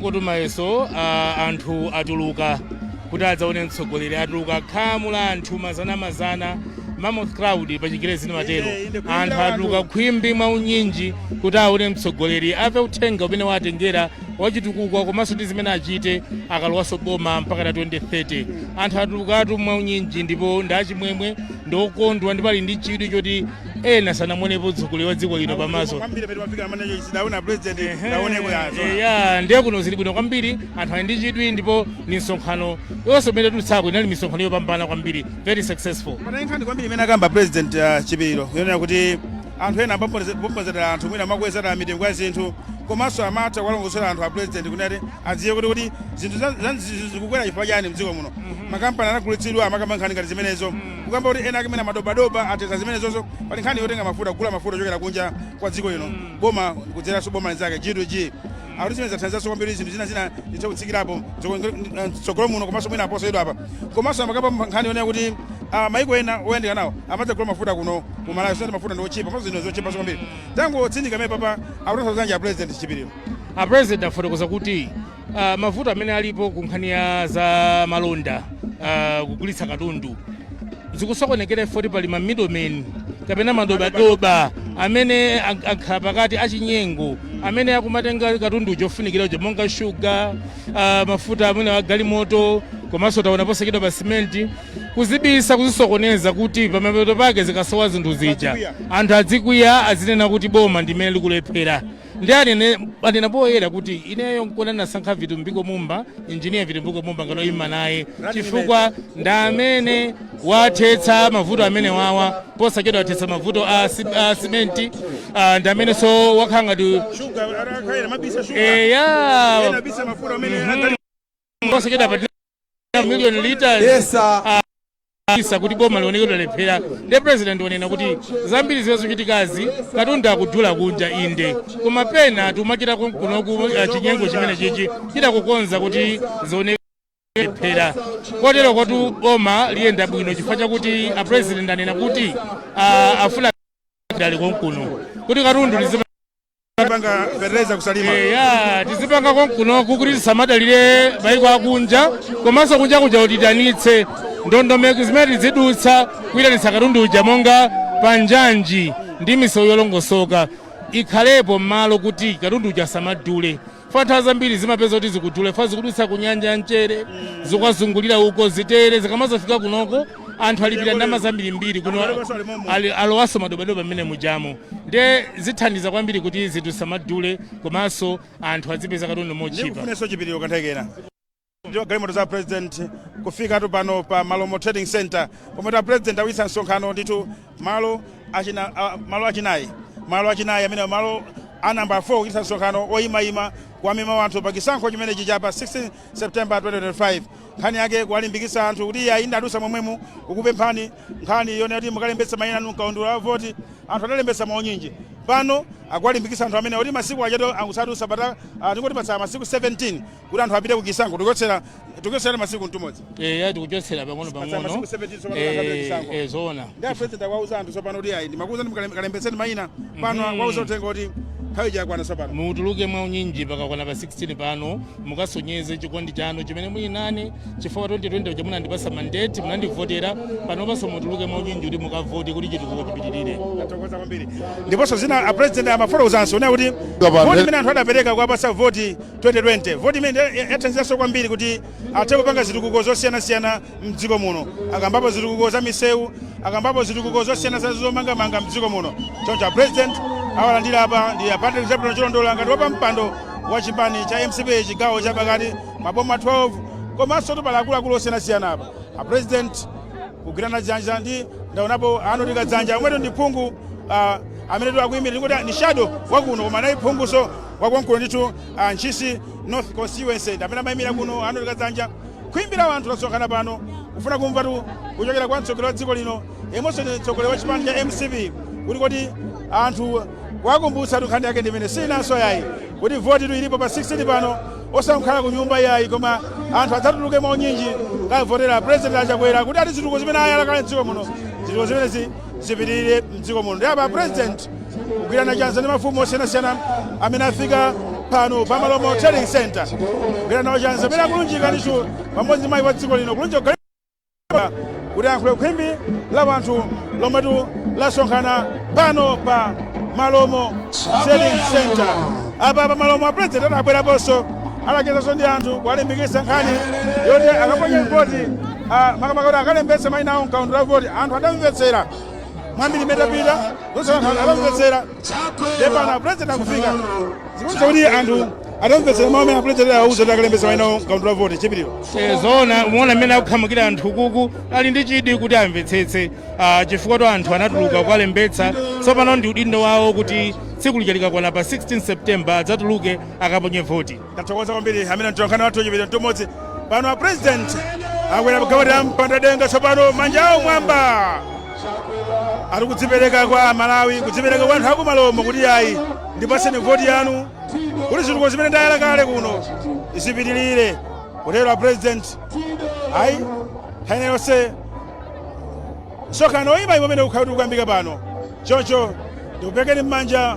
Kotu maso a anthu atuluka kuti adzaone mtsogoleri atuluka khamu la anthu mazanamazana mammoth crowd pa chingerezi timatero anthu atuluka khwimbi mwa unyinji kuti aone mtsogoleri ave uthenga umene watengera wachitukuko komanso ndi zimene achite akalowanso boma mpaka na 2030 anthu atulukatu mwa unyinji ndipo ndi achimwemwe ndi okondwa ndipo ali ndi chidwi choti ena sanamuonepo mtsogoleri wa dziko lino pamaso kwambiri pamene pafika amene ichi sidaona president sidaoneko yazo ya ndiye kuno zili bwino kwambiri anthu ali ndi chidwi ndipo misonkhano yonse imene tulutsako inali misonkhano yopambana kwambiri very successful pa nkhani kwambiri imene akamba president uh, chipiliro yonena kuti anthu ena amaponzera anthu mwina amakwezera mitengo ya zinthu komanso amatha kuwalongosolera anthu a president kuti anthu adziwe kuti kuti zinthu za- za- zikukwera chifukwa chani mdziko muno makampani anagulitsidwa amakamba nkhani ngati zimenezo kukamba kuti ena ake amene amadobadoba athetsa zimenezonso pali nkhani yotenga mafuta kugula mafuta ochokera kunja kwa dziko lino boma kudzera mwa boma linzake g2g akuti zimenezo zithandizanso kwambiri zinthu zina zina zitha kutsikirapo mtsogolo muno komanso mwina posachedwapa komanso amakamba pa nkhani yonena kuti ah, maiko ena oyandika nawo amadzagula mafuta kuno ku malawi zoti mafuta ndi otchipa komanso zinthu zotchipanso kwambiri tangotsindika mene papa akutanthauza zanji a president chipiriro a president afotokoza kuti Uh, mavuto amene alipo ku nkhani ya za malonda uh, kugulitsa katundu zikusokonekera chifoti pali ma middlemen kapena madobadoba amene ak- akhala pakati achinyengo amene akumatenga katundu ofunikira uja monga shuga uh, mafuta amene agalimoto komanso taona posachedwa pa simenti kuzibisa kuzisokoneza kuti pamapeto pake zikasowa zinthu zija anthu adzikwiya azinena kuti boma ndimene likulephera ndi anene anena poyera kuti ineyo nkona nasankha vitumbiko mumba injiniya vitumbiko mumba ngati oyima naye chifukwa ndi amene wathetsa mavuto amenewawa posachedwa wathetsa mavuto a, si- a simenti ah, ndi amenenso wakhala ngati eya posachedwa pa million liters Yes, ah, kubisa kuti boma lioneke lalephera nde president wanena kuti zambiri zimene zikuchitikazi katundu akudula kunja inde koma pena tikumachita kun- kunoku eh, chinyengo chimenechichi chochita kukonza kuti zioneke zalephera koterokotu boma liyenda bwino chifukwa chakuti a president anena kuti ah, afuna adalire konkuno kuti katundu lizima Panga fertilizer ku Salima. ya tizipanga konkunoku kuti tisamadalire maiko akunja komanso kunja kuja kuti tiyitanitse ndondomeko zimene tizidutsa kuyitanitsa katundu uja monga panjanji ndi misewu yolongosoka ikhalepo m'malo kuti katundu uja asamadule Fa nthawi zambiri zimapeza kuti zikudula chifukwa zikudutsa ku nyanja ya mchere zikukazungulira uko zitere zikamazafika kunoko anthu alipira ndalama zambirimbiri kuno alowanso madobadoba mmene mujamo nde zithandiza kwambiri kuti zinthu zisamadule komanso anthu azipeza katundu mochipa ndikufunenso Chipiliro Kamthekera ndiyo galimoto za president kufikatu pano pa Malomo Trading Center pomwe tu a president akuchititsa msonkhano ndithu malo achinayi amene malo a namba 4 kuchititsa msonkhano oyimayima kuwamema wanthu pa chisankho chimenechi chapa 16 september 2025 nkhani yake kuwalimbikitsa anthu kuti iye ayi ndinadutsa momwemu kukupemphani nkhani yonena kuti mukalembetse mayina anu mkaundula wa voti anthu adalembetsa mwaunyinji pano akuwalimbikitsa anthu amenewa kuti masiku achato akusatusa apa tingoti patsala masiku 17 kuti anthu apite kuchisankho tikuchotsera masiku mmodzimmodzi eya tikuchotsera pang'ono Patsa pang'ono masiku 17 tsopano Eh, akapita chisankho. eh, zoona ndi apresident akuwauza anthu tsopano kuti ayi ndimakuuzani mukalembetse mayina pano akuwauza uthenga kuti nthawi yakwana tsopano mutuluke mwa unyinji pakakwana pa 16 pano mukasonyeze chikondi chanu chimene muli nane chifukwa 2020 uja munandipasa mandate munandivotera panopanso mutuluke mwa unyinji kuti mukavote kuti chitukuko chipitirire Tathokoza kwambiri ndiponso zina apresident amafotokozanso onena kuti voti imene anthu adapereka kuwapasa voti 2020. Voti imene yathandizanso kwambiri kuti athe kupanga zitukuko zosiyanasiyana mdziko muno. Akambapo zitukuko za misewu, akambapo zitukuko zosiyanasiyana za zomangamanga mdziko muno. Choncho a President awalandira apa ndi a Patrick Zebron Chilondola ngati wapampando wa chipani cha mcp chigawo cha pakati maboma 12 komanso tu pali akuluakulu osiyanasiyana apa. A President kugwirana chanza ndi ndaonapo Arnold Kadzanja omwetu ndi phungu amene akuyimira ndikuti ni shadow wakuno koma naye phunguso Wakonkuno ndithu wa Ntchisi North Constituency ndi amene amayimira kuno Arnold Kadzanja khwimbi la wanthu lasonkhana pano kufuna kumvatu kuchokera kwa mtsogoleri wa dziko lino yemwenso ndi mtsogoleri wa chipani cha mcp kuti kodi anthu wakumbutsa tu nkhani yake ndi imeneyi siinanso yayi kuti voti tu ilipo pa 16 pano osamukhala ku nyumba yayi koma anthu adzatuluke mwaunyinji kukavotera president a Chakwera kuti ati zitukuko zimene ayala kale mdziko muno zitukuko zimenezi zipitirire mdziko muno ndi apa a president kugwirana chanza ndi mafumu osiyanasiyana amene afika pano pa Malomo Trading Center kugwirana nawo chanza amene akulunjika ndithu pamodzi ndi mayi wa dziko lino kulunjika kugalimoto kuti ayankhule khwimbi la wanthu lomwetu lasonkhana pano pa Malomo Trading Center apa pa Malomo a president adabweraponso anachezanso ndi anthu kuwalimbikitsa nkhani yoti akaponye voti a makamaka kuti akalembetse maina awo mkaundula wavoti anthu adamvetsera mwambiri imene tapita zonse anthu adamvetsera ndiye pano apulezidenti akufika zikuonetsa kuti anthu adamvetsera mawu amene apulezidenti anawauza kuti akalembetse maina awo mkaundula wavoti chipiriro Eh, zoona umaona mmene akukhamukira anthu ukuku ali ndi chidwi kuti amvetsetse ah, chifukwatu anthu anatuluka kukalembetsa tsopano ndi udindo wawo kuti tsiku lija likakwana pa 16 september adzatuluke akaponye voti Tathokoza kwambiri ameneyo mtolankhani wathu Chipiriro Mtumodzi pano a president akwera pagalimoto ya mpanda denga tsopano manja awo m'mwamba ali kudzipereka kwa malawi kudzipereka kwa anthu akumalomo kuti ayi ndipaseni voti yanu kuti zituko zimene ndayala kale kuno zipitirire kutero a president ayi nthawi ina yonse msonkhano oyimaima umene ukhala ukuyambika pano choncho ndikuperekeni m'manja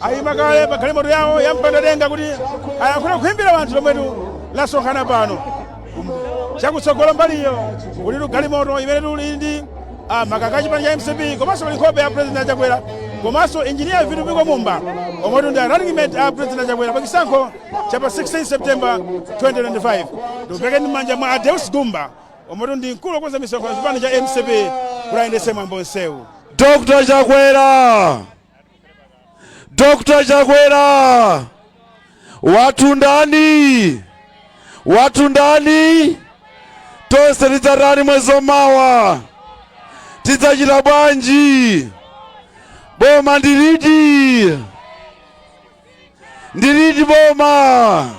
ayima kale pa galimoto yawo ya mpandadenga kuti ayankhule ku khwimbi la wanthu lomwetu lasonkhana pano chakutsogolo mbaliyo kulitu galimoto imenetu ili ndi ah, makaka a chipani cha mcp komanso pali nkhope ya president achakwera komanso injiniya vitumbiko mumba omwetu ndi running mate a president achakwera pa chisankho cha pa 16 september 2025 ndikuperekeni m'manja mwa a Deus gumba omwetu ndi mkulu okonza misonkhano chipani cha mcp kuti ayendetse mwambo onsewu Dr. Chakwera Dr. Chakwera wathu ndani? Wathu ndani? Tonse tidzatani mwezi wamawa, tidzachita bwanji? Boma ndiliti? Ndiliti boma?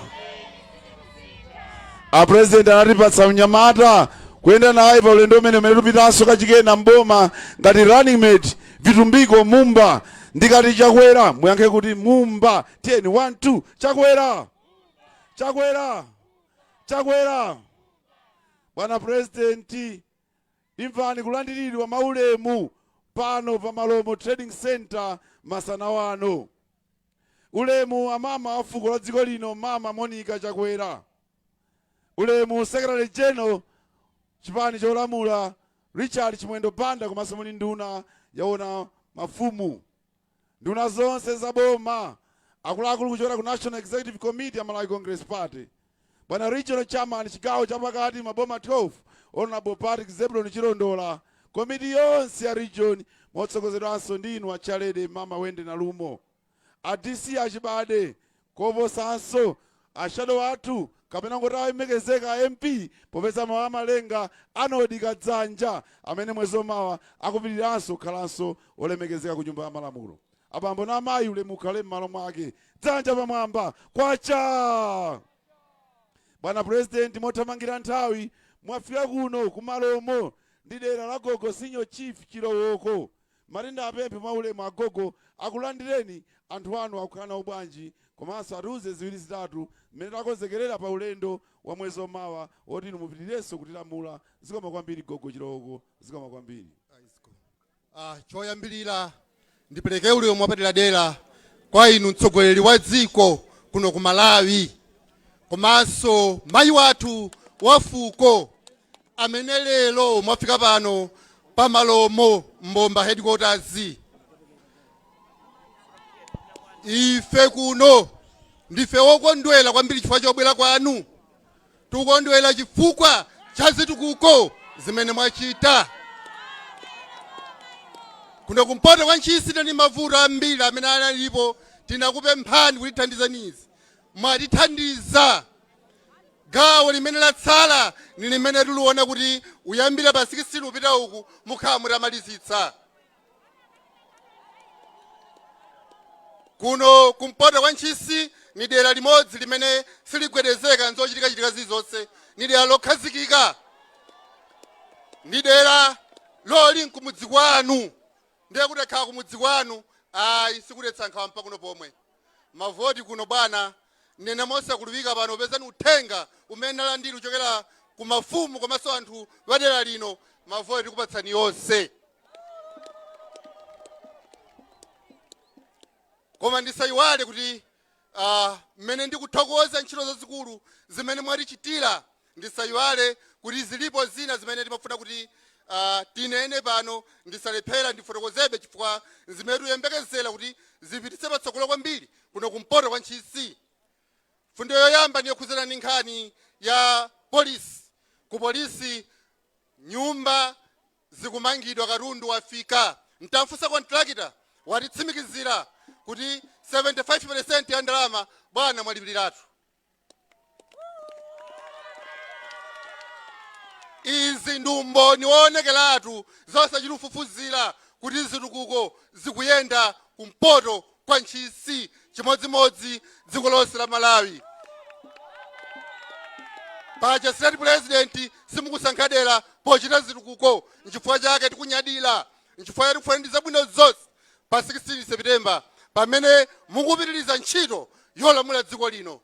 A president anatipatsa mnyamata kuyenda naye pa ulendo umene umene tikupitanso kachikena mboma ngati running mate vitumbiko mumba ndikati chakwera muyankhe kuti mumba tiyeni 1 2 chakwera chakwera chakwera bwana purezidenti imvani kulandiridwa mwaulemu pano pa malomo trading center masana wano ulemu amama wa fuko la dziko lino mama monica chakwera Ulemu Secretary General chipani cholamula Richard Chimwendo Banda komanso muli nduna yowona mafumu, nduna zonse za boma, akuluakulu kuchokera ku National Executive Committee ya Malawi Congress Party, bwana Regional Chairman chigawo chapakati maboma 12 Honourable Patrick Zebulon Chilondola, komiti yonse ya region motsogozedwanso ndi inu a Chairlady Mama Wendy Nalumo. a DC achibade koposanso a shadow athu kapena ungoti alemekezeka a MP popeza mawu a Malenga Arnold Kadzanja amene mwezi omawa akupitiriranso kukhalanso olemekezeka ku nyumba ya malamulo. Abambo na amayi ulemu ukhale mmalo mwake. Dzanja pamwamba. Kwacha! Bwana president mothamangira nthawi mwafika kuno ku malomo ndi dera la gogo senior chief chilowoko Malinda apemphe mwa ulemu agogo akulandireni anthu anu akukhala nawo bwanji komanso atiuze ziwiri zitatu mmene takonzekerera pa ulendo wa mwezi omawa woti inu mupitirirenso kutilamula zikomo kwambiri gogo chilowoko zikomo kwambiri. Choyambirira ndipereke ulemu wapaderadera kwa inu mtsogoleri wa dziko kuno ku Malawi komanso mayi wathu wafuko amene lero mwafika pano pa Malomo mbomba headquarters ife kuno ndife wokondwera kwambiri chifukwa chobwera kwanu tikukondwera chifukwa cha zitukuko zimene mwachita kuno kumpoto kwa Ntchisi ndi mavuto ambiri amene analipo tinakupemphani kutithandizanizi mwatithandiza Gawo limene latsala ni limene tuliona kuti kuyambila pa 16 kupita uku mukhala mutamalizitsa. Kuno kumpoto kwa Ntchisi ni dela limodzi limene siligwedezeka n'zocitika-citika zilizonse. Ni dela lokhazikika. Ni dela loli n'kumudzi kwanu. Ndiye kuti takhala kumudzi kwanu, ayi sikudetsa nkhawa mpaka kuno pomwe. mavoti kuno bwana nnene mosakuluwika pano popeza ni uthenga umene nalandira kuchokera ku mafumu komanso anthu wa dera lino mavoti tikupatsani yonse koma ndisayiwale kuti uh, mmene ndikuthokoza ntchito zazikulu zimene mwatichitira Ndisayiwale kuti zilipo zina zimene timafuna kuti uh, tinene pano ndisalephera ndifotokozebe chifukwa nzimene tuyembekezera kuti zipititse patsogolo kwambiri kuno kumpoto kwa ntchisi fundo yoyamba ndi yokhudzana ndi nkhani ya polisi ku polisi nyumba zikumangidwa katundu wafika ntamfunsa kontrakita watitsimikizira kuti 75 peresenti ya ndalama bwana mwalipiliratu Izi ndi umboni woonekeratu zosachita kufufuzira kuti zitukuko zikuyenda kumpoto kwa Ntchisi chimodzimodzi dziko lonse la Malawi. Paja state president simukusankha dera pochita zitukuko nchifukwa chake tikunyadira nchifukwa chake tikufunirani zabwino zonse pa 16 September pamene mukupitiliza ntchito yolamula dziko lino.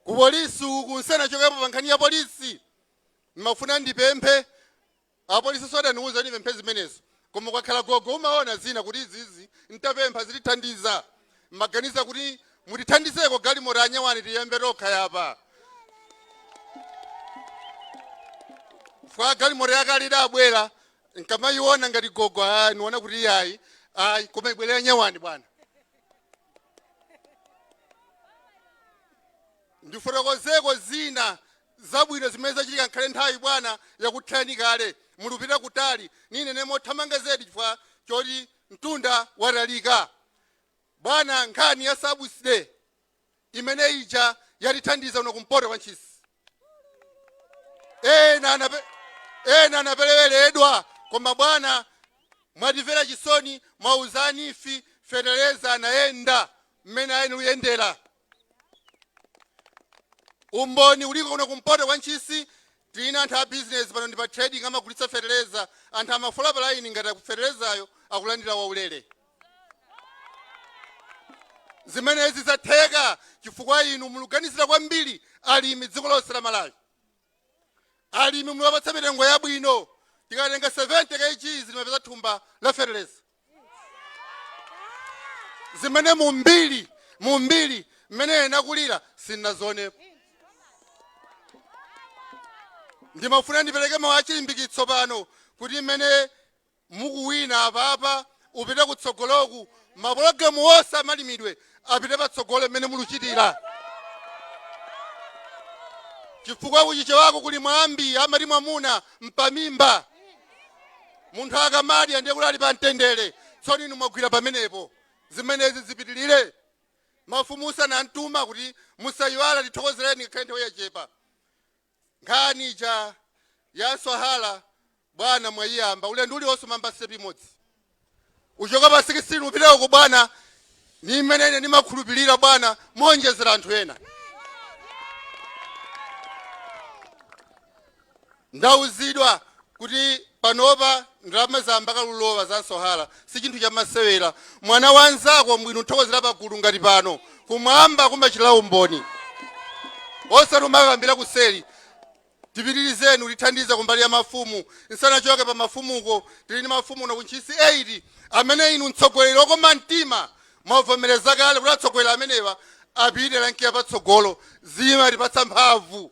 Ku polisi uku nsanachokepo pa nkhani ya polisi ndimafuna ndipemphe apolisiso adaniuza ndipemphe zimenezo koma kwakhala gogo umaona zina kuti izizi ntapempha zitithandiza. mmaganiza kuti mutithandizeko galimoto ya nyuwani tiyembe tokha yapa fwa galimoto yakale idabwera nkamayiona ngati gogo ah, niona kuti iyayi koma ibwere ya nyuwani bwana ndifotokozeko zina zabwino zimene zachitika nkhale nthawi bwana yakuthani kale mulupita kutali ninene mothamanga zedi chifukwa choti mtunda watalika Bwana nkhani ya subsidy imene ija yatithandiza kuno kumpoto kwa Ntchisi ena anape- ena anapeleweredwa koma bwana mwatimvera chisoni mwauza a NEEF fetereza anayenda mmene ayenera uyendera Umboni uliko kuno kumpoto kwa Ntchisi tili ndi anthu a business pano ndi pa trading amagulitsa feteleza anthu amafola pa line ngati akufetelezayo akulandira waulere. Zimenezi zatheka chifukwa inu muluganizira kwambiri alimi dziko lonse la Malawi. Alimi muliwapatsa mitengo yabwino tikatenga 70 kg zimapeza thumba la feteleza. zimene mu mbiri mu mbiri mmene nakulira sinazionepo ndimafuna ndipereke mawu achilimbikitso pano kuti mmene mukuwina apapa upita kutsogoloku mapulogalamu onse amalimidwe apite patsogolo mmene muluchitira chifukwa kuchichewako kuli mwambi amati mwamuna mpamimba munthu akamadya ndiye kuti ali pa mtendere tsono inu mwagwira pamenepo zimenezi zipitilire mafumuso anantuma kuti musayiwala tithokozereni ngakhale nthawi yachepa Nkhani ija ya mswahala bwana mwaiyamba. Ulendo uliwonse umayamba step imodzi. Uchoka pa 16 upita uko bwana. Ni mmene ine ndimakhulupirira bwana moonjezera anthu ena. Ndauzidwa kuti panopa ndalama zayamba kale ulowa za mswahala sichinthu chamasewera mwana wa nzako mbwino nthokozera pagulu ngati pano kumwamba kumachitira umboni osati umakambira kuseli tipitirizeni utithandiza kumbali ya mafumu nsanachoke pa mafumuko tili ndi mafumu uno ku Ntchisi 8 amene inu mtsogoleri okoma mtima mwavomereza kale kuti atsogoleri amenewa apite rank ya patsogolo zimatipatsa mphamvu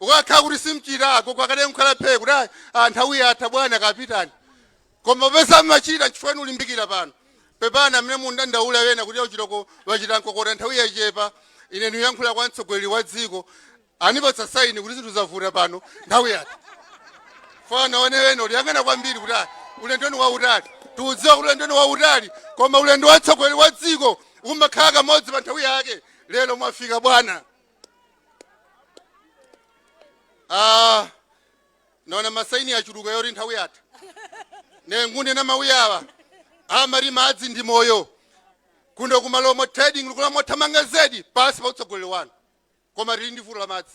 ukakhala kuti simchita agogo akadali nkukhala phee kuti "Ah, ah, nthawi yatha bwana kapitani koma popeza mmachita nchifukwa niulimbikira pano pepani amene mundandaula wena kuti auchitoko wachita nkokota nthawi yachepa ine niyankhula kwa mtsogoleri wa dziko anipatsa saini kuti zinthu zavuta pano nthawi yatha chifukwa ona ena uliyang'ana kwambiri kuti "Ah, ulendoni wautali tikudziwa kuti ulendoni wautali koma ulendo wa mtsogoleri wa dziko umakhala kamodzi pa nthawi yake lero mwafika bwana naona masaini yachuluka yoti nthawi yatha ningogunda mawu awa amati madzi ndi moyo kuno ku Malomo trading likula mothamanga zedi pansi pa utsogoleri wanu koma tili ndi vuto la madzi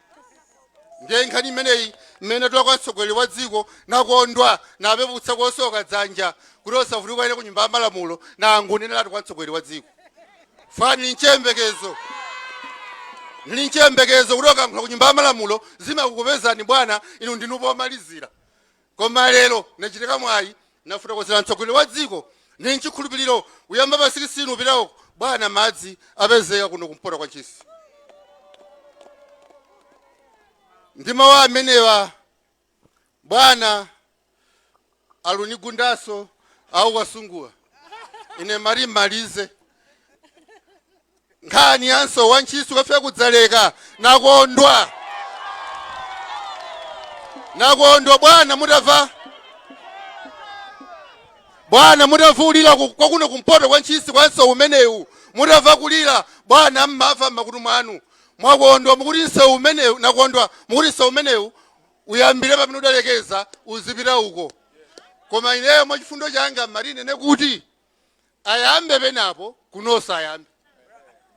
ndiye nkhani imeneyi mmene natula kwa mtsogoleri wa dziko nakondwa napeputsa kosoka dzanja kuti osati ukanene ku nyumba ya malamulo nangoneneratu kwa mtsogoleri wa dziko chifukwa ndili nchiyembekezo ndili nchiyembekezo kuti okankhula ku nyumba ya malamulo zimakukupezani bwana inu ndinu pomalizira Koma lero nachita mwayi nafotokozera mtsogoleri wa dziko ndi nchikhulupiriro uyamba pa 16 upita uko bwana madzi apezeka kuno kumpoto kwa Ntchisi. Ndi mawu amenewa bwana alunigundaso akukusungula ine amati malizani nkhani ya nsewu wa ntchisi ukafika ku Dzaleka nakondwa nakondwa bwana mutava bwana mutava ulira ku- kwa kuno kumpoto kwa ntchisi kwa nsewu umenewu mutava kulira bwana mmava mmakutu mwanu mwakondwa mukuti nsewu umenewu nakondwa mukuti nsewu umenewu uyambire pamene udalekeza uzipita uko koma ineyo mwa chifundo changa mmati ninene kuti ayambe penapo kunonso ayambe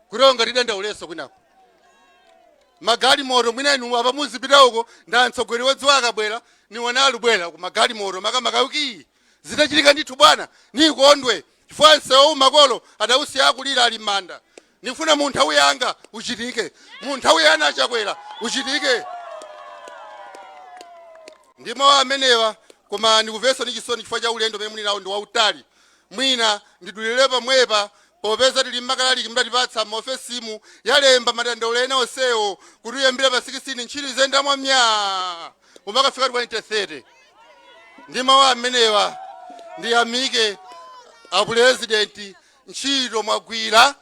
kutero ngati tidandaulenso kwinako magalimoto mwina inu apa muzipita uko nda mtsogoleri wa dziko akabwera niwona alubwera ku magalimoto makamaka uki zitachitika ndithu bwana nikondwe chifukwa nsewu makolo adausiya akulira ali m'manda Ndikufuna mu nthawi yanga uchitike, mu nthawi ya a Chakwera uchitike. Ndi mawu amenewa, koma ndikumvanso ndi chisoni chifukwa cha ulendo umene muli nawo ndi wautali. Mwina ndidulire pomwepa popeza tili ndi makalaliki mudatipatsa m'maofesimu yalemba madandaulo ena onsewo kuti uyambire pa 16 ntchito iziyenda mwa myaa kumakafika 2030. Ndi mawu amenewa ndiyamike apulezidenti ntchito mwagwira.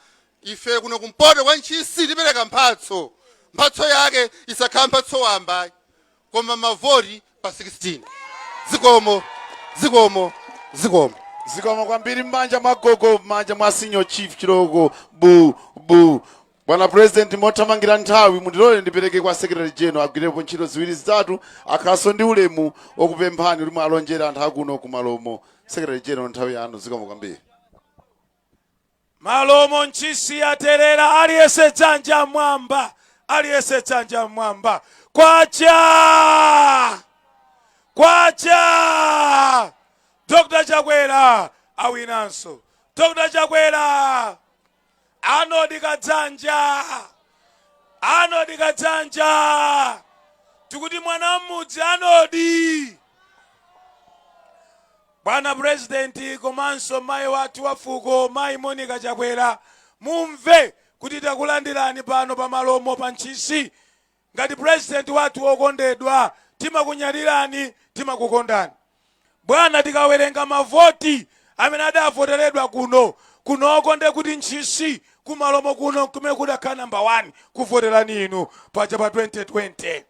Ife kuno kumpoto kwa Ntchisi tipereka mphatso. Mphatso yake isakhala mphatso wamba ayi, koma mavoti pa 16. Zikomo, zikomo, zikomo. zikomo kwambiri m'manja mwa gogo m'manja mwa senior chief Chilooko bu bu Bwana President, mothamangira nthawi mundilole ndipereke kwa Secretary General agwirepo ntchito ziwiri zitatu akhalenso ndi ulemu okupemphani kuti muwalonjere anthu akuno ku Malomo. Secretary General, nthawi yanu zikomo kwambiri. Malomo ntchisi yaterera aliyese dzanja mwamba aliyese dzanja mwamba kwacha kwacha Dr. Chakwera awinanso Dr. Chakwera Arnold Kadzanja Arnold Kadzanja tikuti mwana wa mmudzi Arnold bwana president komanso mayi wathu wa fuko mayi Monica Chakwera mumve kuti takulandirani pano pa malomo pa ntchisi Ngati president wathu okondedwa timakunyadirani timakukondani bwana tikawerenga mavoti amene adavoteredwa kuno kunoko nde kuti ntchisi kumalomo kuno nkumene kudakhala number 1 kuvoterani inu paja pa 2020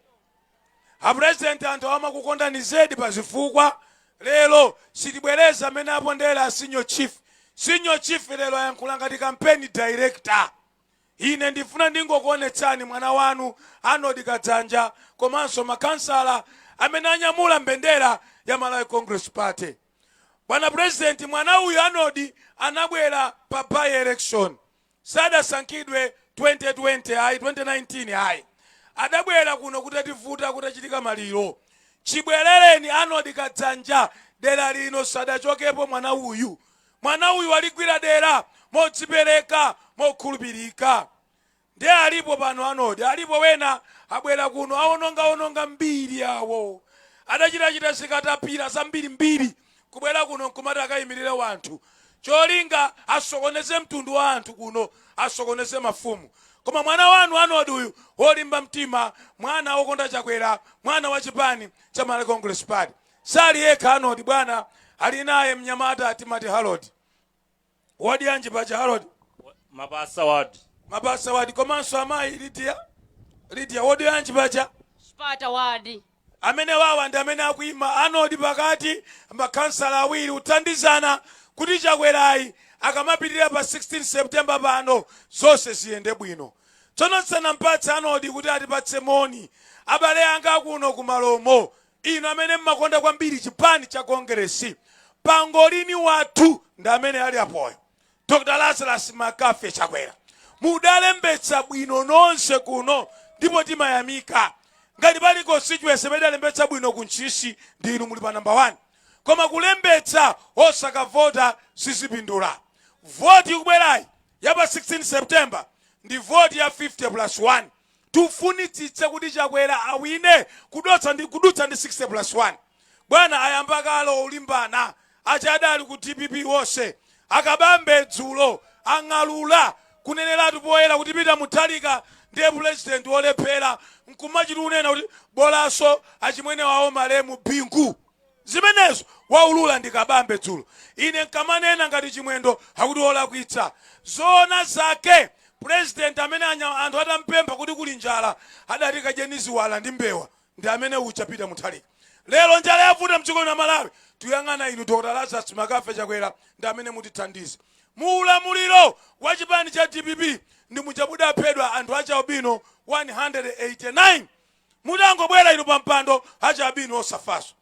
a president anthu awa amakukondani zedi pa zifukwa lero sitibwereza mmene apondera a senior chief senior chief lero ayankhula ngati campaign director Ine ndifuna ndingokuonetsani mwana wanu Arnold Kadzanja komanso makhansala amene anyamula mbendera ya Malawi Congress Party. Bwana President, mwana uyu Arnold anabwera pa by election, sadasankhidwe 2020 ayi 2019 ayi, adabwera kuno kutativuta kutachitika maliro. Chibwerereni Arnold Kadzanja dera lino sadachokepo mwana uyu. Mwana uyu waligwira dera modzipereka, mokhulupirika. Ndiye alipo pano, Arnold, alipo wena abwera kuno, awononga wononga mbiri yawo, adachitachita za katapira zambiri mbiri, kubwera kuno nkumati akayimirire wanthu, cholinga asokoneze mtundu wa anthu kuno, asokoneze mafumu. Koma mwana wanu Arnold uyu, wolimba mtima, mwana wokonda Chakwera, mwana wa chipani cha Malawi Congress Party. Sali yekha Arnold bwana ali naye mnyamata timati Harold. Wodi yanji paja Harold? mapasa ward Mapasa ward komanso amayi Lydia. Lydia wodi yanji paja? chipata ward amene wawa ndi amene akuima Arnold pakati makhansala awiri kuthandizana kuti chakwerayi akamapitirira pa 16 september pano zonse ziyende bwino tsono tisanampatse Arnold kuti atipatse moni abale anga akuno kumalomo Inu amene mmakonda kwambiri chipani cha Kongeresi, pangolini wathu ndi amene ali apoyo, Dr Lazarus McCarthy Chakwera. Mudalembetsa bwino nonse kuno ndipo timayamika. Ngati pali constituency imene idalembetsa bwino ku Ntchisi ndi inu muli pa number 1. Koma kulembetsa osakavota sizipindula. Voti ikubwerayi ya pa 16 September ndi voti ya 50 plus 1. tufunitsitse kuti chakwera awine kudutsa ndi 60 plus 1 bwana ayamba kale olimbana aja adali ku dpp onse a kabambe dzulo ang'alula kuneneratu poyera kuti peter mutharika ndiye pulezidenti wolephera nkumachita kunena kuti bolaso achimwene wawo malemu bingu Zimenezo waulula ndi Kabambe dzulo. Ine nkamanena ngati Chimwendo akuti wolakwitsa. Zoona zake President amene anthu atampempha kuti kuli njala adati kadyeni ziwala ndi mbewa ndi amene uja Peter Mutharika. Lero njala yavuta mdziko lino la Malawi tuyang'ana inu Dr Lazarus McCarthy Chakwera ndi amene mutithandize. Mu ulamuliro wa chipani cha dpp ndi muja mudaphedwa anthu achialbino 189. mutangobwera inu pampando achialbino osafaso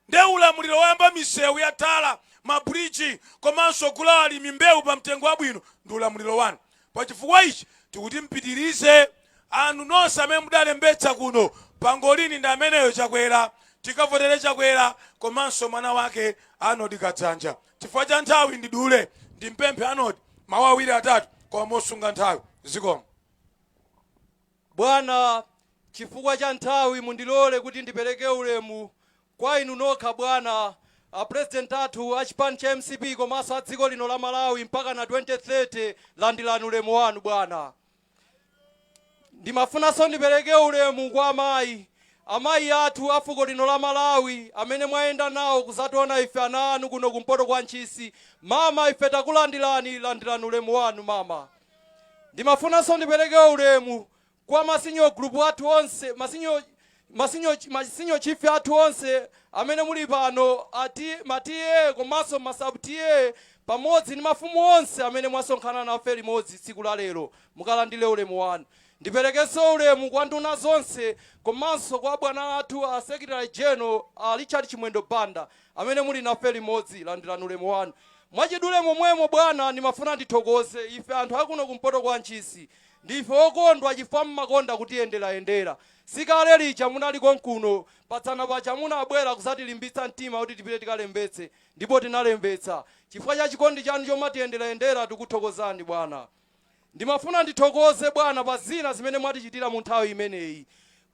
nde ulamuliro woyamba misewu ya tala ma bridge komanso ogula kwa alimi mbewu pa mtengo wabwino ndi ulamuliro wanu pachifukwa ichi tikuti mpitirize anu nonse amene mudalembetsa kuno pangolini ndi ameneyo chakwera tikavotere chakwera komanso mwana wake arnold kadzanja chifukwa cha nthawi ndidule ndimpemphe arnold mawu awiri atatu koma mosunga nthawi zikomo Bwana, chifukwa cha nthawi, mundilole kuti ndipereke ulemu kwa inu nokha, bwana, a President athu a chipani cha mcp komanso a dziko lino la Malawi mpakana 2030. Landirani ulemu wanu, bwana. Ndimafunanso ndipereke ulemu kwa amayi, amayi athu a fuko lino la Malawi amene mwayenda nawo kuzationa ife ana anu kuno kumpoto kwa Ntchisi. Mama, ife takulandirani, landirani ulemu wanu, mama. Ndimafunanso ndipeleke ulemu kwa ma senior group athu onse, ma senior chief athu onse amene muli pano, ma TA komanso ma sub TA pamodzi ndi mafumu onse amene mwasonkhana nafe limodzi tsiku la lero mukalandile ulemu wanu. Ndipelekenso ulemu kwa nduna zonse komanso kwa abwana athu a Secretary General a Richard Chimwendo Banda. Amene muli nafe limodzi, landirani ulemu wanu. Mwachidule momwemo, bwana, ndimafuna ndithokoze. Ife anthu akuno kumpoto kwa Ntchisi, ndife okondwa chifukwa mmakonda kutiyenderayendera. Si kale lija munali konkuno? Padzana paja munabwera kudzatilimbitsa mtima kuti tipite tikalembetse, ndipo tinalembetsa. Chifukwa cha chikondi chanu chomatiyenderayendera, tikuthokozani, bwana. Ndimafuna ndithokoze bwana pa zina zimene mwatichitira mu nthawi imeneyi.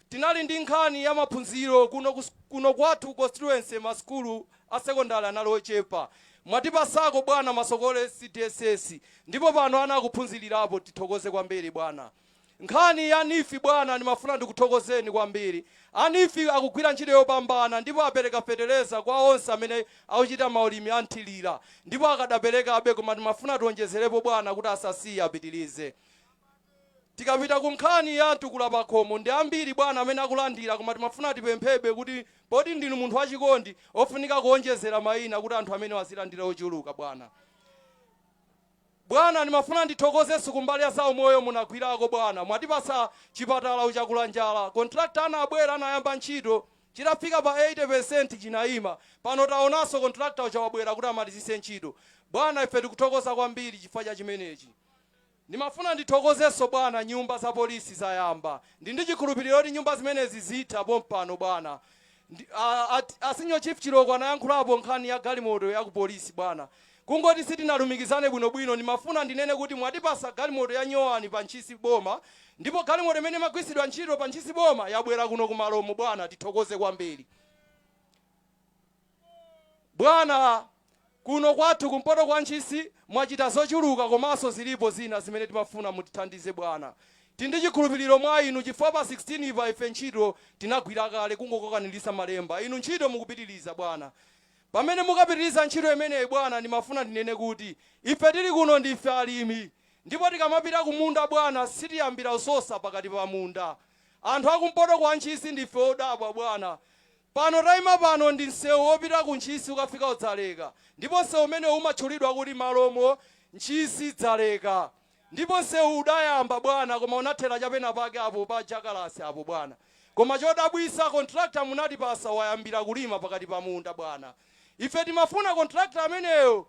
Tinali ndi nkhani ya maphunziro kuno kwathu constituency ma sukulu a secondary anali ochepa. Mwatipasako bwana Masokole cdss ndipo pano ana akuphunzilirapo tithokoze kwambiri bwana. Nkhani ya neef bwana ndimafuna ndikuthokozeni kwambiri A Neef akugwira ntchito yopambana ndipo apereka fetereza kwa onse amene akuchita maulimi a mthilira ndipo akadaperekabe koma timafuna tionjezerepo bwana kuti asasiye apitilize. Tikapita ku nkhani ya mtukula pakhomo ndi ambiri bwana amene akulandira koma timafuna tipemphebe kuti poti ndinu munthu wachikondi ofunika kuonjezera maina kuti anthu amenewa azilandira ochuluka bwana. Bwana ndimafuna ndithokozeso kumbali ya zaumoyo munagwilako bwana mwatipasa chipatala ku chakulanjala contractor anabwera anayamba ntchito chitafika pa 80% chinaima pano taonaso contractor uja wabwera kuti amalizise ntchito bwana ife tikuthokoza kwambiri chifukwa cha chimenechi ndimafuna ndithokozeso bwana nyumba za police zayamba ndi chikhulupiliro kuti nyumba zimenezi zitha pompano bwana a senior chief chiloko anayankhulapo nkhani ya galimoto ya ku police bwana Kungoti sitinalumikizane bwino bwino ndimafuna ndinene kuti mwatipasa galimoto ya nyowani pa ntchisi boma ndipo galimoto imene imagwirtsidwa ntchito pa ntchisi boma yabwera kuno ku malomo bwana tithokoze kwambiri bwana kuno kwathu kumpoto kwa ntchisi mwachita zochuluka komanso zilipo zina zimene timafuna mutithandize bwana tili ndi chikhulupiliro mwa inu chifukwa pa 16 pa ife ntchito tinagwira kale kungokokaniritsa malemba inu ntchito mukupitiliza bwana Pamene mukapitiriza ntchito imeneyi, bwana, ndimafuna ndinene kuti ife tiri kuno ndife alimi. Ndipo tikamapita kumunda, bwana, sitiyambira kusosa pakati pa munda. Anthu a kumpoto kwa Ntchisi ndife odabwa, bwana. Pano taima pano ndi msewu wopita ku Ntchisi ukafika ku Dzaleka, ndipo msewu umenewu umatchulidwa kuti Malomo, Ntchisi, Dzaleka. Ndipo nsewu udayamba bwana koma unathera cha pena pake apo pa Jakalasi apo bwana. Koma chodabwitsa contractor munatipasa wayambira kulima pakati pa munda bwana. Ife timafuna contractor ameneyo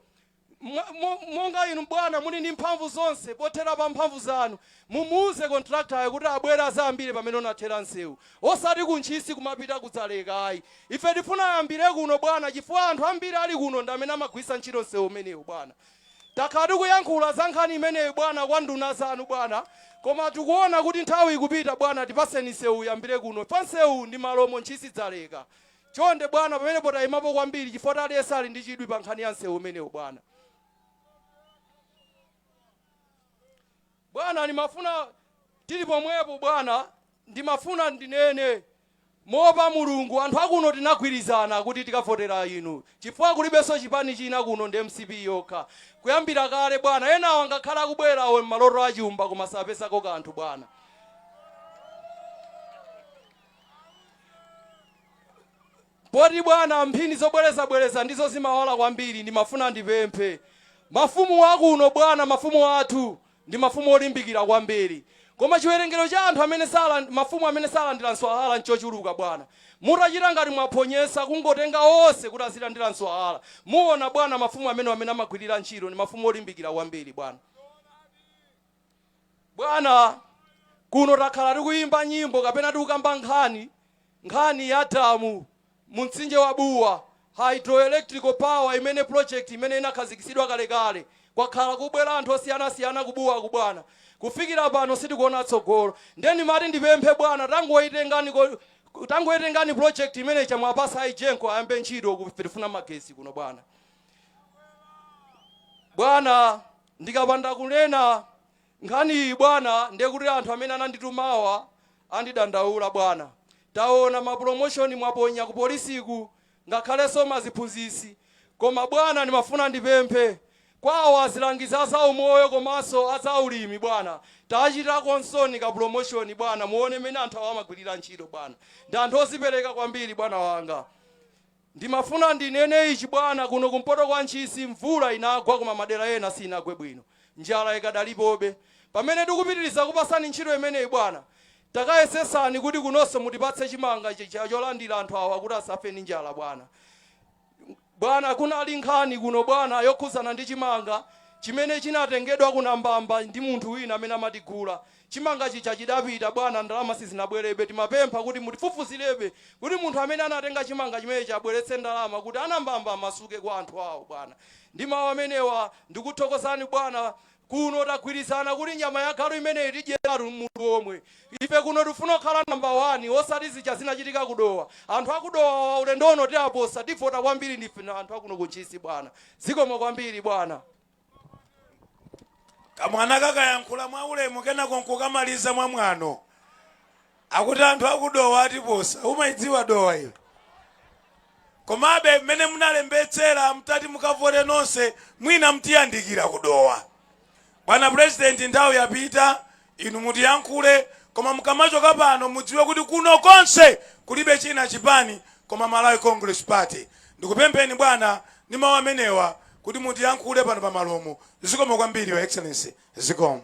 monga inu bwana muli ndi mphamvu zonse pothera pa mphamvu zanu mumuuze contractor yo kuti abwere adzayambire pamene unathera nsewu osati ku Ntchisi kumapita ku Dzaleka ayi. Ife tifuna ayambire kuno bwana chifukwa anthu ambiri ali kuno ndi amene amagwiritsa ntchito nsewu umenewu bwana. Takhala tikuyankhula za nkhani imeneyi bwana kwa nduna zanu bwana koma tikuona kuti nthawi ikupita bwana tipaseni nsewu uyambire kuno chifukwa nsewu ndi malomo ntchisi dzaleka chonde bwana pamenepo taimapo kwambiri chifukwa aliyense ali ndi chidwi pa nkhani ya nsewu umenewu bwana. Bwana, ndimafuna, tiri pomwepo, bwana, ndimafuna ndinene, moopa Mulungu, anthu akuno tinagwirizana kuti tikavotera inu, chifukwa kulibenso chipani china kuno ndi MCP yokha, kuyambira kale, bwana. Enawo angakhale akubwerawo mmaloto a chumba, koma sapezako kanthu, bwana. Poti bwana mphini zobwerezabwereza ndizo zimawala kwambiri ndimafuna ndipemphe mafumu akuno bwana mafumu athu ndi mafumu olimbikira kwambiri koma chiwerengero cha anthu amene saland mafumu amene salandira mswahara nchochuluka bwana mutachita ngati mwaphonyetsa kungotenga onse kuti azilandira mswahara muona bwana mafumu amenewa mmene amagwirira ntchito ndi mafumu olimbikira kwambiri bwana. Bwana, kuno takhala tikuyimba nyimbo kapena tikukamba nkhani, nkhani ya damu mu Mtsinje wa Bua, hydroelectrical power imene project imene inakhazikitsidwa kalekale. Kwakhala kubwera anthu osiyanasiyana ku Buaku bwana. Kufikira pano sitikuona tsogolo. Ndiye ndimati ndipemphe bwana tangoitengani project imene ija mwapasa a Egenco ayambe ntchito ku, ife tifuna magetsi kuno bwana. Bwana, Ndikapanda kunena nkhaniyi bwana ndiye kuti anthu amene ananditumawa andidandaula bwana. Taona ma promotion mwaponya ku polisiku ngakhalenso maziphunzitsi. Koma bwana ndimafuna ndipemphe kwa awa azilangizi a za umoyo komanso a za ulimi bwana tachitakonsoni ka promotion bwana muone mmene anthu awa amagwilira ntchito bwana. Ndi anthu ozipereka kwambiri bwana wanga. Ndimafuna ndinene ichi bwana, kuno kumpoto kwa Ntchisi mvula inagwa koma madera ena sinagwe bwino, njala ikadalipobe. Pamene tikupitiliza kupasani ntchito imeneyi bwana, takayesesani kuti kunonso mutipatse chimanga cholandira anthu awa kuti asafe ndi njala bwana. Bwana, kunali nkhani kuno bwana yokhuzana ndi chimanga chimene chinatengedwa ku Nambamba ndi munthu wina amene amatigula. Chimanga chija chidapita, bwana, ndalama sizinabwerebe. Timapempha kuti mutifufuzirebe kuti munthu amene anatenga chimanga chimenechi abweretse ndalama kuti a Nambamba amasuke kwa anthu awo, bwana. Ndi mawu amenewa, ndikuthokozani, bwana. Kuno tagwirizana kuti nyama ya galu imeneyi tidyeratu mutu womwe. Ife kuno tikufuna kukhala namba wani, osati zija zinachitika ku Dowa. Anthu a ku Dowa awa ulendo uno tiaposa, tivota kwambiri ndife anthu a kuno ku Ntchisi, bwana. Zikomo kwambiri, bwana. Kamwana kakayankhula mwaulemu kenako nkukamaliza mwamwano. Akuti anthu a ku Dowa atiposa. Umaidziwa Dowa iyo? Komabe mmene munalembetsera mutati mukavote nonse mwina mutiyandikira ku Dowa. Bwana Purezidenti, nthawi yapita Inu mutiyankhule koma mukamachoka pano mudziwe kuti kuno konse kulibe china chipani koma Malawi Congress Party. Ndikupempheni bwana ndi mau amenewa kuti mutiyankhule pano pa Malomo. Zikomo kwambiri Your Excellency. Zikomo.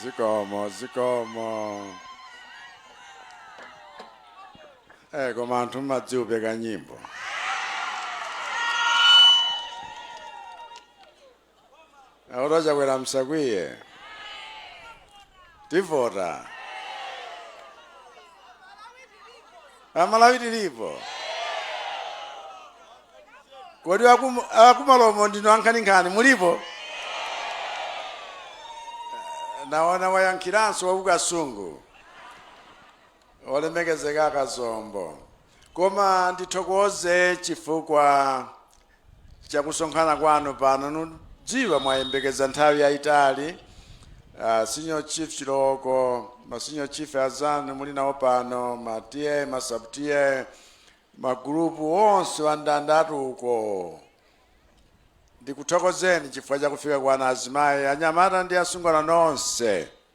zikomo zikomo eh koma anthu mmadziwupeka nyimbo akuti a Chakwera msakwiye tivota a Malawi tilipo kodi akum- a ku Malomo ndinu ankhaninkhani mulipo naona wayankhiranso wa ku Kasungu olemekezeka a Kazombo koma ndithokoze chifukwa cha kusonkhana kwanu pano ndudziwa mwayembekeza nthawi yayitali uh, senior chief Chilooko ma senior chief azanu muli nawo pano ma ta ma sub ta magulupu onse wandandatu uko ndikuthokozeni chifukwa cha kufika kwanu azimayi anyamata ndi asungwana nonse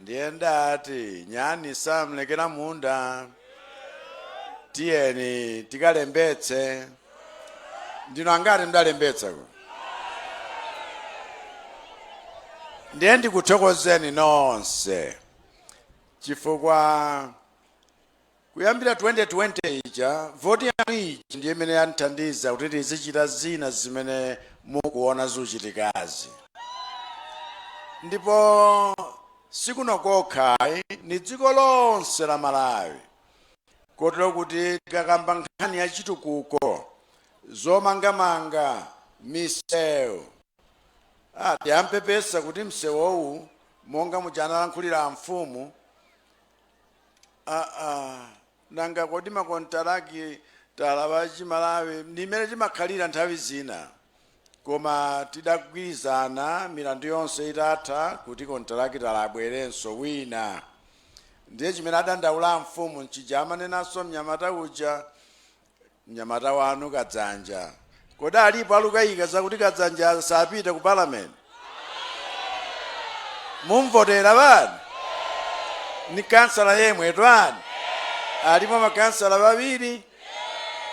ndiye ndati nyani samlekera munda tiyeni tikalembetse ndinu angati mdalembetsako ndiye ndikuthokozeni nonse chifukwa Kuyambira 2020 ija, voti yanu ija ndiye imene yandithandiza kuti tizichita zina zimene mukuona zuchitikazi. Ndipo sikuno kokha ayi, ni dziko lonse la Malawi. Kotero kuti tikakamba nkhani ya chitukuko, zomangamanga, misewu, ah, tiyambe tapepesa kuti msewowu monga muja analankhulira amfumu, aa nanga kodi makontarakitala achimalawi ndi mmene timakhalira nthawi zina koma tidagwirizana milandu yonse itatha kuti kontarakitala abwerenso wina ndiye chimene adandaula mfumu nchija amanenanso mnyamata uja Mnyamata wanu Kadzanja, kodi alipo alukayika zakuti Kadzanja sapita ku parliament? Mumvotera yani? Ni kansala yemwe twani? Alipo makansala babiri?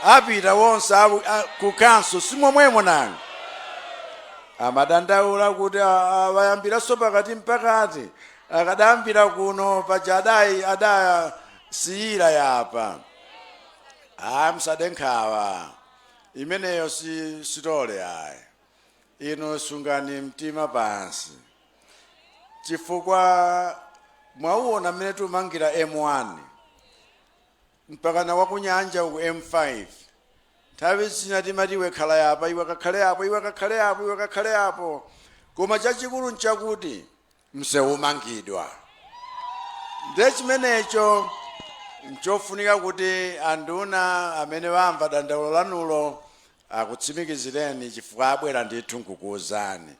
Apita wonse abu- a- ku kanso simomwemo nanga amadandaula kuti a- a- wayambiranso pakati mpakati akadayambira kuno paja adai adasiyira yapa ayi musade nkhawa imeneyo si sitole ayi inu sungani mtima pansi chifukwa mwauona mmene tiumangira m1 mpakana wakunyanja ku m5 nthawi zina timati iwe khala yapa iwe kakhale apo iwe kakhale apo iwe kakhale apo koma chachikulu nchakuti msewu umangidwa. Ndiye chimenecho nchofunika kuti anduna amene wamva dandaulo lanulo akutsimikizireni chifukwa abwera ndithu nkukuwuzani.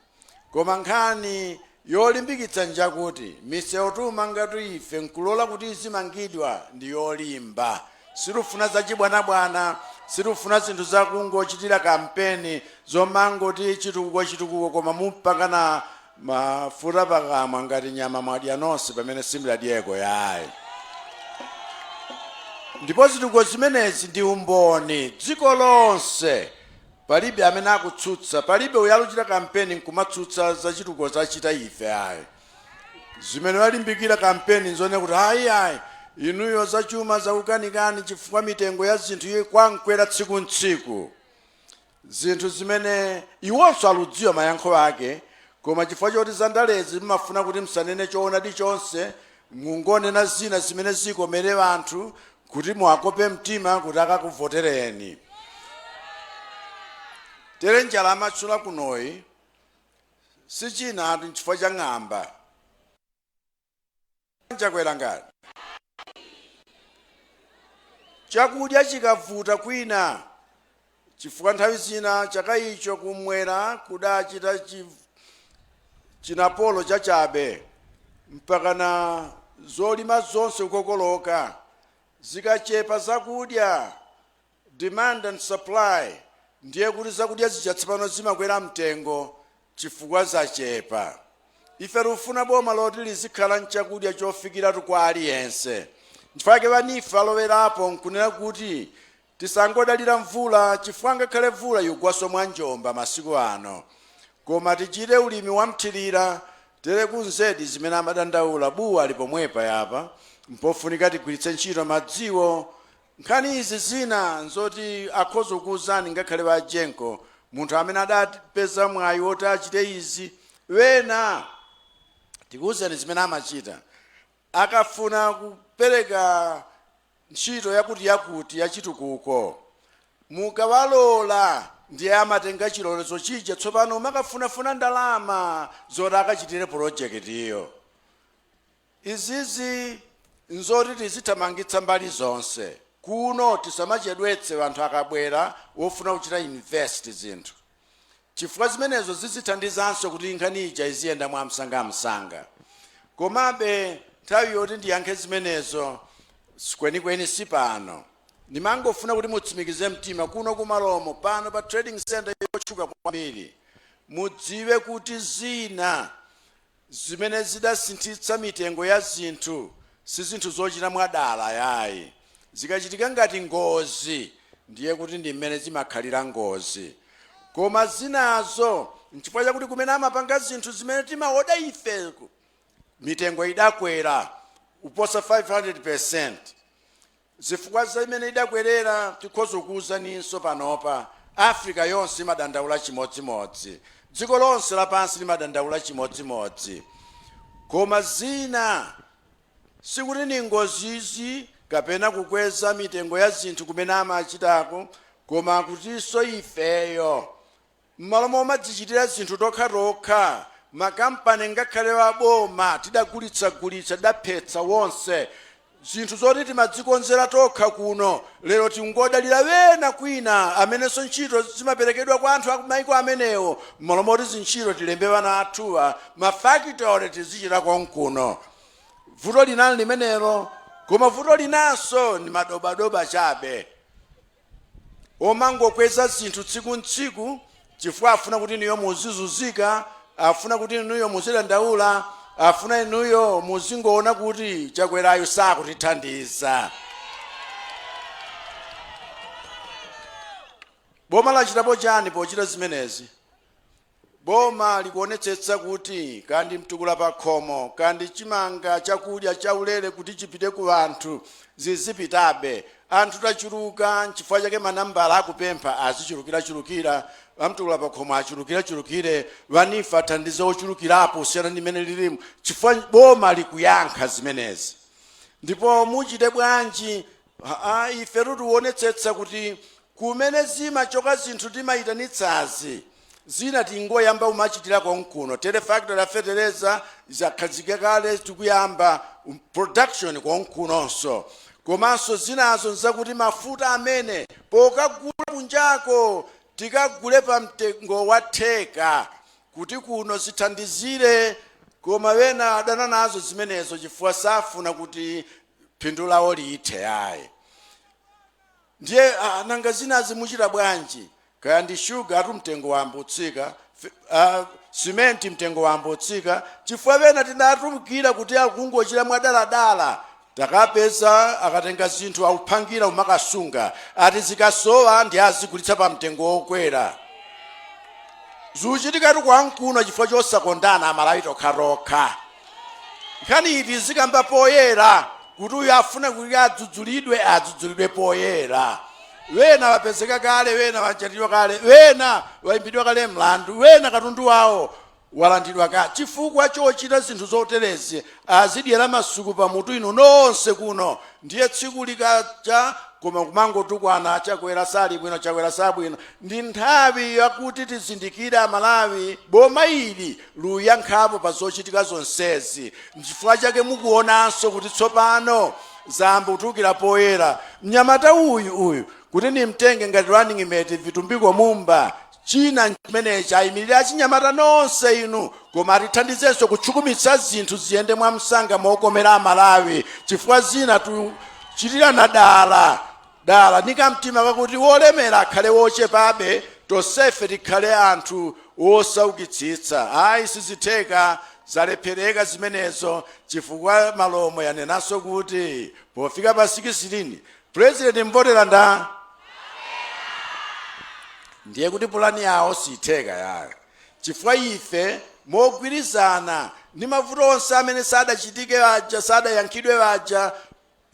Koma nkhani yolimbikitsa njakuti misewu tiumangatu ife nkulola kuti izimangidwa ndi yolimba. Sitifuna zachibwanabwana, sitifuna zinthu zakungochitira kampeni zomangoti chitukuko chitukuko koma kumpakana Mafuta pakamwa ngati nyama mwadya nonse pamene simdadyeko yayi. Ndipo zitukuko zimenezi ndi umboni dziko lonse palibe amene akutsutsa, palibe uyo aluchita kampeni nkumatsutsa za chitukuko zachita ife ayi. Zimene alimbikira kampeni nzonena kuti ayi ayi inuyo zachuma zakukanikani chifukwa mitengo ya zinthu ikungokwera tsiku ntsiku. zinthu zimene iwonso aludziwa mayankho ake koma chifukwa choti zandalezi mumafuna kuti msanene choonadi chonse mungonena zina zimene zikomere anthu kuti muwakope mtima kuti akakuvotereni tere njala amatchula kunoyi sichinatu nchifukwa cha ng'amba Chakwera ngati chakudya chikavuta kwina chifukwa nthawi zina chaka icho kumwera kudachita chinapolo chachabe mpakana zolima zonse kukokoloka zikachepa zakudya Demand and supply ndiye kuti zakudya zija tsopano zimakwera mtengo chifukwa zachepa. Ife tikufuna boma loti lizikhala nchakudya chofikiratu kwa aliyense. Nchifukwa chake ba Nifa alowerapo nkunena kuti tisangodalira mvula chifukwa ngakhale mvula ikugwanso mwa njomba masiku ano. Koma tichite ulimi wa mthirira tere ku Mzedi zimene amadandaula Bua ili pomwepa yapa mpofunika tigwiritse ntchito madziwo Nkhani izi zina nzoti akhoza kukuuzani ngakhale a Jenko, munthu amene adapeza mwayi woti achite izi. Ena tikuuzani zimene amachita akafuna kupereka ntchito yakutiyakuti yachitukuko. Mukawalola ndiye amatenga chilolezo chija tsopano makafunafuna ndalama zoti akachitire pulojekitiyo. Izizi nzoti tizithamangitsa mbali zonse kuno tisamachedwetse anthu akabwera wofuna kuchita invest zinthu chifukwa zimenezo zizithandizanso kuti nkhani ija iziyenda mwamsangamsanga komabe nthawi yoti ndiyankhe zimenezo kwenikweni si pano ndimangofuna kuti mutsimikize mtima kuno ku Malomo pano pa trading center yotchuka kwambiri mudziwe kuti zina Zimene zidasinthitsa mitengo ya zinthu si zinthu zochita mwadala yayi. Zikachitika ngati ngozi ndiye kuti ndi mmene zimakhalira ngozi. Koma zinazo n'chifukwa chakuti kumene amapanga zinthu zimene timaoda ife mitengo idakwera kuposa 500%. Zifukwa zimene idakwerera tikhoza kukuuzaninso panopa Africa yonse imadandaula chimodzimodzi dziko lonse lapansi limadandaula chimodzimodzi koma zina sikuti ni ngozizi kapena kukweza mitengo ya zinthu kumene amachitako koma kutinso ifeyo M'malo momadzichitira zinthu tokhatokha, makampani ngakhale a boma tidagulitsagulitsa, tidaphetsa onse. Zinthu zoti timadzikonzera tokha kuno, lero tingodalira ena kwina amenenso ntchito zimaperekedwa kwa anthu akumaiko amenewo. M'malo moti zintchito tilembe ana athuwa, mafactory tizichita konkuno. Vuto lina nlimenelo. Koma vuto linanso ni madobadoba chabe. omangokweza zinthu tsiku ntsiku chifukwa afuna kuti inuyo muzizuzika afuna kuti inuyo muzidandaula afuna inuyo muzingoona kuti Chakwerayu sakutithandiza boma lachitapo chani pochita zimenezi Boma likuonetsetsa kuti kaya ndi mtukula pakhomo kaya ndi chimanga chakudya chaulere kuti chipite ku anthu zizipitabe. Anthu tachuluka n'chifukwa chake manambala akupempha azichulukirachulukira, amtukula pakhomo achulukirechulukire, a NEEF athandize ochulukirapo kusiyana ndi mmene lilimu chifukwa boma likuyankha zimenezi. Ndipo muchite bwanji? Haa ifetu tionetsetsa kuti kumene zimachoka zinthu timayitanitsazi zina tingoyamba kumachitira konkuno tere factory ya fetereza zakhazikika kale tikuyamba production konkunonso komanso zinazo n'zakuti mafuta amene pokagula kunjako tikagule pamtengo wa theka kuti kuno zithandizire koma ena adana nazo zimenezo chifukwa safuna kuti phindu lawo lithe ayi ndiye ah, nanga zinazi muchita bwanji kaya ndi shuga atu mtengo wayamba kutsika uh, simenti mtengo wayamba kutsika chifukwa ena tidatulukira kuti akungochita mwadaladala takapeza akatenga zinthu akuphangira kumakasunga ati zikasowa ndiye azigulitsa pa mtengo wokwera zikuchitikatu konkuno chifukwa chosakondana amalawi tokhatokha Nkhaniyi tizikamba poyera kuti uyu afuna kuti adzudzulidwe adzudzulidwe poyera. Wena wapezeka kale, wena watchajidwa kale, wena wayimbidwa kale mlandu, wena katundu wawo walandidwa kale. Chifukwa chochita zinthu zoterezi akudyera masuku pamutu inu nonse kuno. Ndiye tsiku likacha koma kumangotukwana Chakwera sali bwino, Chakwera sabwino. Ndi nthawi yakuti tizindikire Amalawi boma ili likuyankhapo pa zochitika zonsezi. Nchifukwa chake mukuwonanso kuti tsopano zayamba kutulukira poyera. Mnyamata uyu, uyu, kuti ndimtenge ngati running mate, Vitumbiko Mumba, china nchimenechi, ayimirire achinyamata nonse inu, koma atithandizenso kutakasitsa zinthu ziyende mwamsanga mokomera Amalawi, chifukwa zina tikuchitirana dala. dala, ndi kamtima kakuti wolemera akhale wochepabe, tonsefe tikhale anthu wosaukitsitsa. Ayi, sizitheka, zalephereka zimenezo, chifukwa Malomo yanenanso kuti pofika pa sikisitini, pulezidenti muvotera ndani? ndiye kuti pulani yawo siitheka yayo chifukwa ife mogwirizana ndi mavuto onse amene sadachitike aja sadayankhidwe aja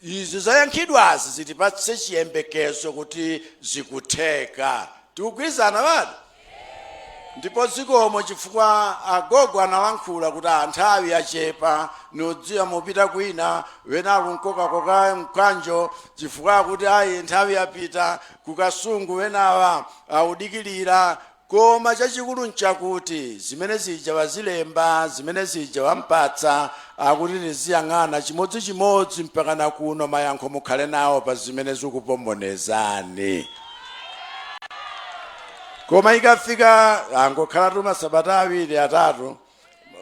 Izi zayankhidwazi zitipatse chiyembekezo kuti zikutheka. Tikugwirizana abale? Ndipo zikomo chifukwa agogo analankhula kuti a nthawi yachepa ndikudziwa mupita kwina wena akundikokakoka mkanjo chifukwa akuti ayi nthawi yapita ku Kasungu wenawa akudikilira Koma chachikulu nchakuti zimene zija wazilemba, zimene zija wampatsa, akuti ndiziyang'ana chimodzichimodzi mpakana kuno mayankho mukhale nawo pa zimene zikupombonezani. Koma ikafika angokhalatu masabata awiri atatu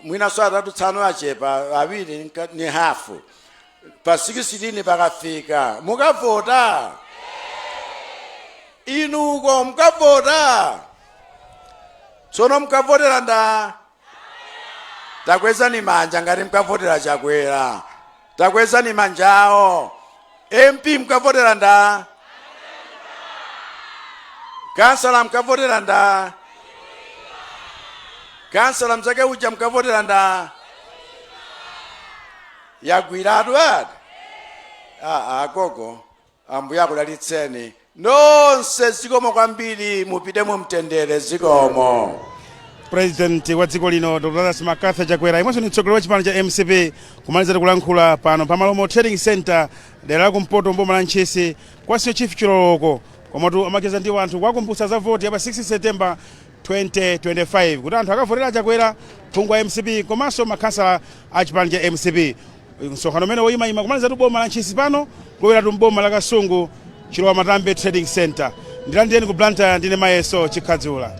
mwinanso atatu tsono achepa awiri ndi hafu pa 16 pakafika mukavota inuko mukavota tsono mukavotera nda takwezani manja ngati mukavotera chakwera Takwezani manja awo. MP mkavotera nda? Kansala mkavotera nda? Kansala mzake uja mkavotera nda? Yagwiratu ati? Ah, ah, gogo. Ambuye akudalitseni nonse zikomo kwambiri mupite mu mtendere zikomo. President wa dziko lino Dr. Lazarus Mccarthy Chakwera yemwenso ni mtsogoleri wa chipani cha mcp kumalizatu kulankhula pano pa Malomo Trading Center dera la kumpoto m'boma la Ntchisi kwa Senior Chief Chiloloko komatu amacheza ndi wanthu kuwakumbutsa za voti ya pa 16 September 2025 kuti anthu akavotele a Chakwera, phungu wa mcp komanso makhansala a chipani cha mcp. Msonkhano umene woyimayima kumalizatu boma la Ntchisi pano kulowelatu m'boma la Kasungu Chilowamatambe Trading Centre. Ndilandireni ku Blantyre ndine Mayeso Chikhadzula.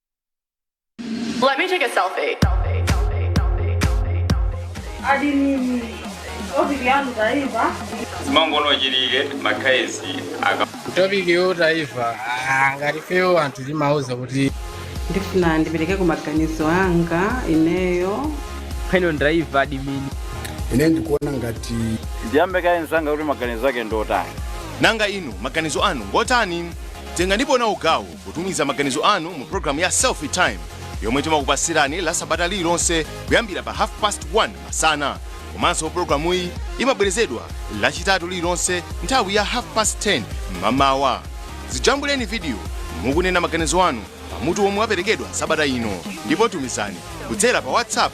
Let me take a selfie. adilini ofisi yangu taifa zimangono chilike makhayesi aka topiki yotaifa ngati fewo anthu timauza kuti ndifuna ndiperekeko maganizo anga ineyo pheno ndaiva adimini ine ndikuona ngati ndiyambe kaye mnzanga kuti maganizo ake ndi otani nanga inu maganizo anu ngotani tengani ndipo nawo gawo potumiza maganizo anu mu programu ya selfie time yomwe timakupatsirani lasabata lililonse kuyambira pa half past 1 masana komanso programuyi imabwerezedwa lachitatu lililonse nthawi ya half past 10 m'mawa dzijambuleni vidiyo mukunena maganizo anu pamutu womwe waperekedwa sabata ino ndipo tumizani kudzera pa whatsapp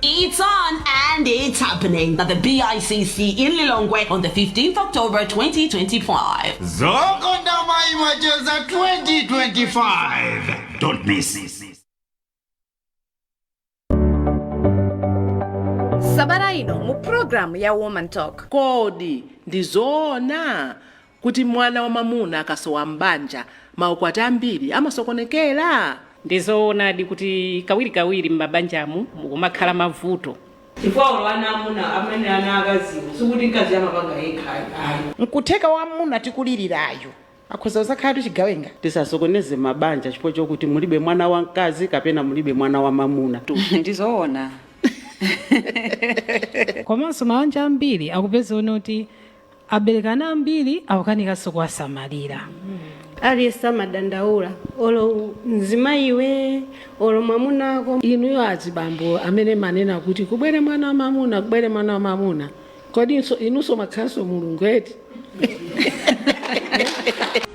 It's on and it's happening at the BICC in Lilongwe on the 15th October 2025. Zokonda Amayi Macheza 2025. Don't miss it. sabata ino mu pulogalamu ya woman talk kodi ndi zoona kuti mwana wamwamuna akasowa m'banja, maukwati ambiri amasokonekera? Ndi zoonadi kuti kawirikawiri m'mabanjamu mukumakhala mavuto. Chifukwa olo ana amuna amene ana aakaziwo sikuti mkaziyo amapanga yekha ayi. Nkutheka wamwamuna tikulilirayu akhoza kuzakhalatu chigawenga? Tisasokoneze mabanja chifukwa chokuti mulibe mwana wamkazi kapena mulibe mwana wamamuna. Ndi zoona. Komanso mabanja ambiri akupeza one oti Abereke ana ambiri akukanikanso kuwasamalira. Aliyense amadandaula olo mzimayi iwe olo mwamuna ako. Inuyo azibambo amene manena kuti kubwere mwana wa mamuna kubwere mwana wa mamuna kodi so inunso mwakhalanso mulungu eti?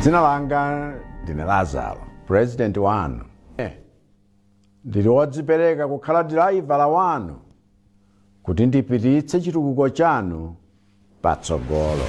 dzina langa ndine lazaro purezidenti wanu ndili wodzipereka kukhala diraivala wanu kuti ndipititse chitukuko chanu patsogolo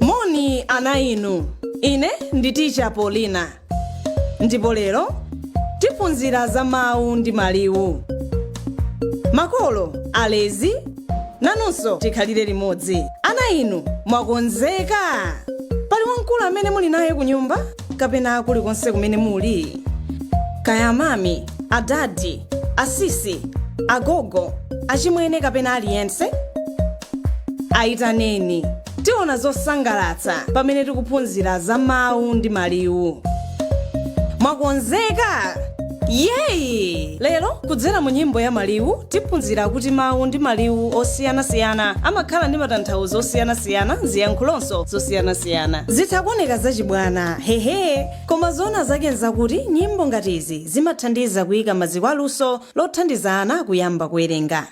moni ana inu ine ndi ticha polina ndipo lero tiphunzira za mawu ndi maliwu makolo alezi nanunso tikhalire limodzi ana inu mwakonzeka pali wamkulu amene muli naye ku nyumba kapena kulikonse kumene muli kaya amami adadi asisi agogo achimwene kapena aliyense ayitaneni tiona zosangalatsa pamene tikuphunzira za mawu ndi maliwu mwakonzeka yeyi lero kudzera mu nyimbo ya maliwu tiphunzira kuti mawu ndi maliwu osiyanasiyana amakhala ndi matanthauzo osiyanasiyana ziyankhulonso zosiyanasiyana zitha kuoneka zachibwana hehe koma zoona zake nzakuti nyimbo ngati izi zimathandiza kuyika maziko a luso lothandiza ana kuyamba kuwerenga